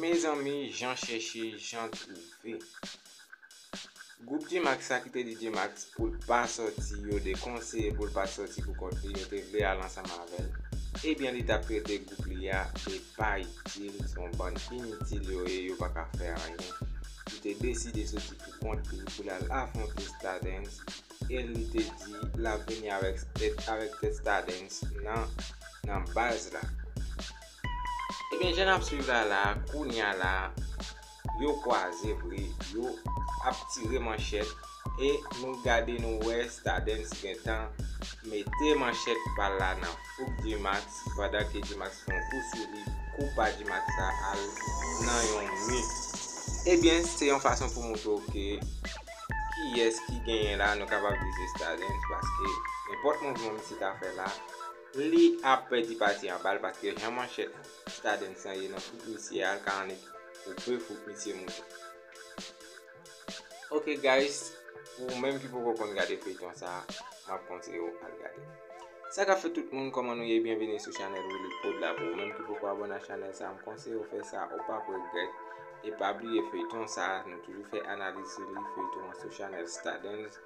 Mezanmi jan chèche jan twouve. Gwoup Gmax sa ki te di Gmax pou l pa sòti yo te konseye pou l pa t sòti pou kont li yo te vle al ansanm avè l ebyen li t ap trete gwoup li a de pa itil se yon bann initil yo ye yo pa ka fè anyen li te deside sòti pou kont li pou l al afwonte Stardens e li te di l ap vini avèk tèt Stardens nan baz la. Ebyen jan nap swiv la la a kounya la a yo kwaze vre yo ap tire manchèt e nou gade nou wè Stadens gentan mete manchèt pal la nan fouk Gmax pandan ke Gmax fè yon kou sou li kou pa Gmax la al nan yon mi ebyen se yon fason pou moutre w ke kiyès ki genyen la nou kapab di se Stadens paske nenpòt mouvman misye ta fè la Li ap pèdi pati anbal paske jan manchèt stadens lan ye nan fouk misye a li ka annik koupe fouk misye moute. Ok guys pou ou menm ki poko konn gade feyton sa map konseye ou al gade. Sa kap fèt tout moun kòman nou ye byenvini sou chanèl Willy prod la pou ou menm ki poko abòne ak chanèl sa mkonseye ou fè sa ou pap regrèt e pa bliye feyton sa nou toujou fè analiz sou li feyton an sou chanèl stadens.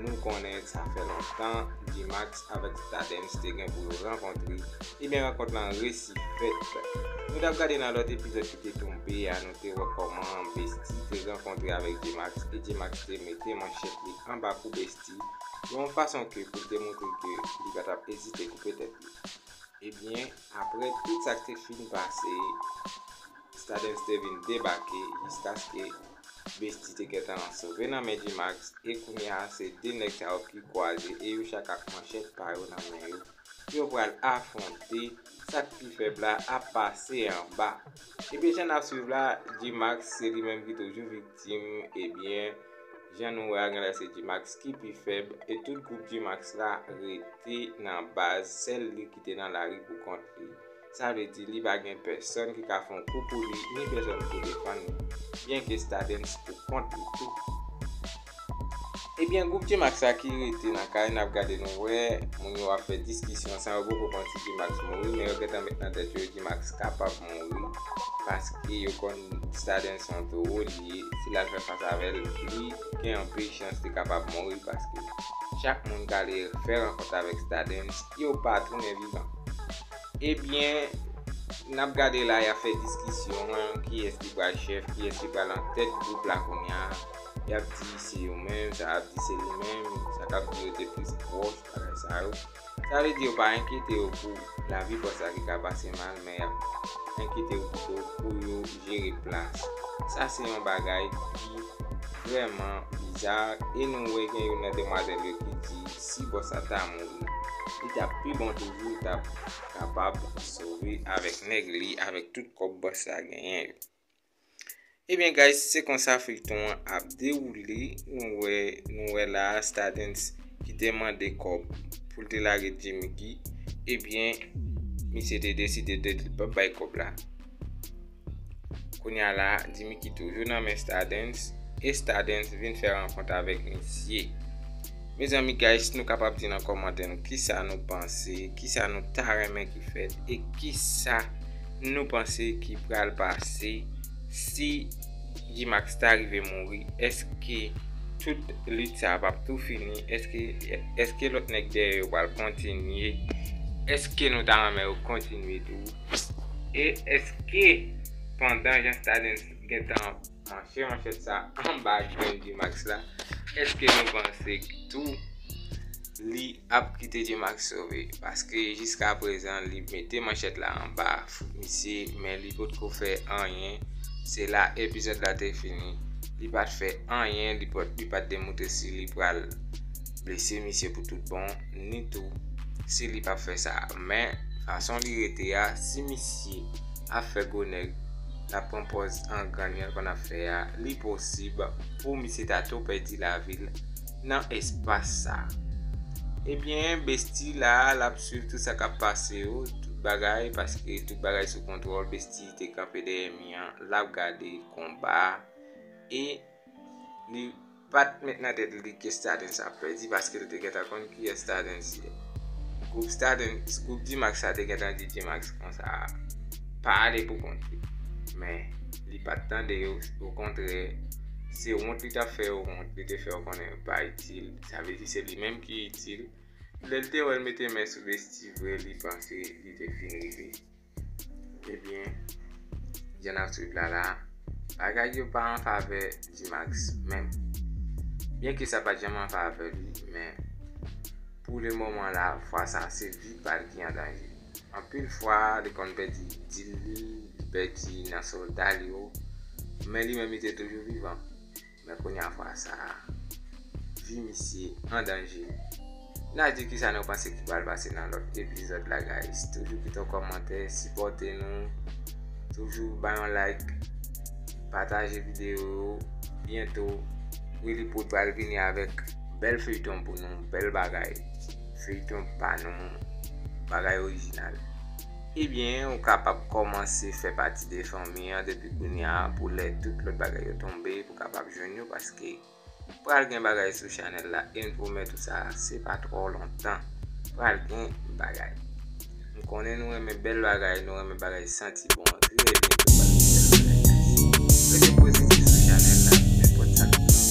Nou konnen sa fè lontan Gmax avèk Stardens te gen pou yo rankontre, ebyen rankont lan resi fèt. Nou tap gade nan lòt epizòd ki te tonbe a nou te wè kòman Bestie te rankontre avèk Gmax e Gmax te mete manchèt li anba kou Bestie yon fason ke pou l te moutre ke li pa tap ezite koupe tèt li. Ebyen aprè tout sa k te fin pase Stardens te vin debake jiskaske Bestie te gentan sove nan men Gmax e kounya se 2 nèg sa yo ki kwaze e yo chak ak manchèt pa yo nan men yo. Yo pral afwonte, sak pi fèb la ap pase anba. Ebyen jan nap swiv la Gmax se li menm ki toujou viktim ebyen jan nou wè a genlè se Gmax ki pi fèb e tout gwoup Gmax la rete nan baz sèl li ki te nan lari pou kont li. Sa vle di li pa gen pèsòn ki ka fè yon kou pou li ni pèsòn pou defann li. Byen ke Stadens pou kont li tou. Ebyen gwoup Gmax la ki rete nan kay nap gade nou wè moun yo ap fè diskisyon san yo poko konn si Gmax mouri men yo gentan met nan tèt yo Gmax kapab mouri paske yo konn Stadens son towo li ye si lal fè fas avèl li gen anpil chans li kapab mouri paske chak moun kale fè rankont avèk Stadens yo pa tounen vivan. Ebyen nap gade la yap fè diskisyon kiyès ki pral chèf kiyès ki pral an tèt gwoup la kounya yap di se yo menm sa ap di se li menm sa kap di yo te plis pwòch bagay sa yo sa vle di yo pa enkyete yo pou lavi fòs la ki ka pase mal men yap enkyete yo pito pou yo jere plas sa se yon bagay ki vrèman bizar e nou wè gen youn nan demwazèl yo ki di Si bòs la ta mouri li tap pi bon toujou li tap kapab sove avèk nèg li avèk tout kòb bòs la genyen yo. Ebyen guys se konsa feyton an ap dewoule nou wè nou wè la a stadens ki te mande kòb pou l te lage Djimiki ebyen misye te deside de li pap bay kòb la. Kounya la Dimiki toujou nan men Stardens e Stardens vin fè rankont avèk misye. Mezanmi guys nou kapab di nan kòmantè nou kisa nou panse, kisa nou ta renmen ki fèt e kisa nou panse ki pral pase si Gmax ta rive mouri eske tout lit sa pap tou fini eske lòt nèg dèyè yo pral kontinye eske nou ta renmen yo kontinye tou. E eske pandan Jean Stadens gentan ap manche manchèt sa anba grenn Gmax la, eske nou panse tou li ap kite Gmax sove? Paske jiska prezan li mete manchèt la anba fouk misye men li potko fè anyen, se la epizòd la te fini. Li pat fè anyen, li pat demontre si li pral blese misye pou tout bon. ni tou si li pap fè sa men fason li rete a si misye ap fè gwo nèg lap pran pòz angran jan l konn ap fè a li posib pou misye ta tou pèdi lavi l nan espas sa ebyen Bestie la lap swiv tout sa kap pase yo tout bagay paske tout bagay sou kontwòl Bestie te kanpe dèyè mi an lap gade konba a e li. Pa t met nan tèt li ke Stardens ap pèdi paske l te gentan konn kiyès Stardens ye. Gwoup Stardens, gwoup D-Max sa te gentan di D-Max konsa a, pa ale pou kont li. Men, li pa t tande yo, okontrè, se wont li t ap fè yo wont, li te fè yo konnen yo pa itil, sa vle di se li menm ki itil. Lè l te wè l mete men sou Bestie vre, li panse li te fin rive. Ebyen jan nap swiv la la bagay yo pa an favè Gmax menm. Byen ke sa pat janm an favè li men pou le moman la fwa sa se vi pal ki an danje. Anpil fwa li konn pèdi dil li, li pèdi nan solda li yo men li menm li te toujou vivan. Men kounya vwa sa a. Vi misye an danje. Na di kisa nou panse ki pral pase nan lòt epizòd la guys. Toujou kite yon kòmantè, sipòte nou, toujou bay yon like, pataje videyo yo. Byento Willyprod pral vini avèk bèl feyton pou nou, bèl bagay, feyton pa nou, bagay orijinal. Ebyen ou kapab kòmanse fè pati de fanmi an depi kounya pou lè tout lòt bagay yo tonbe pou kapab jwenn yo paske pral gen bagay sou chanèl la e m pwomèt ou sa se pa twò lontan pral gen bagay m konnen nou renmen bèl bagay nou renmen bagay santi bon trè byento pral gen bèl bagay guys rete pozitif sou chanèl la nenpòt sa k pran.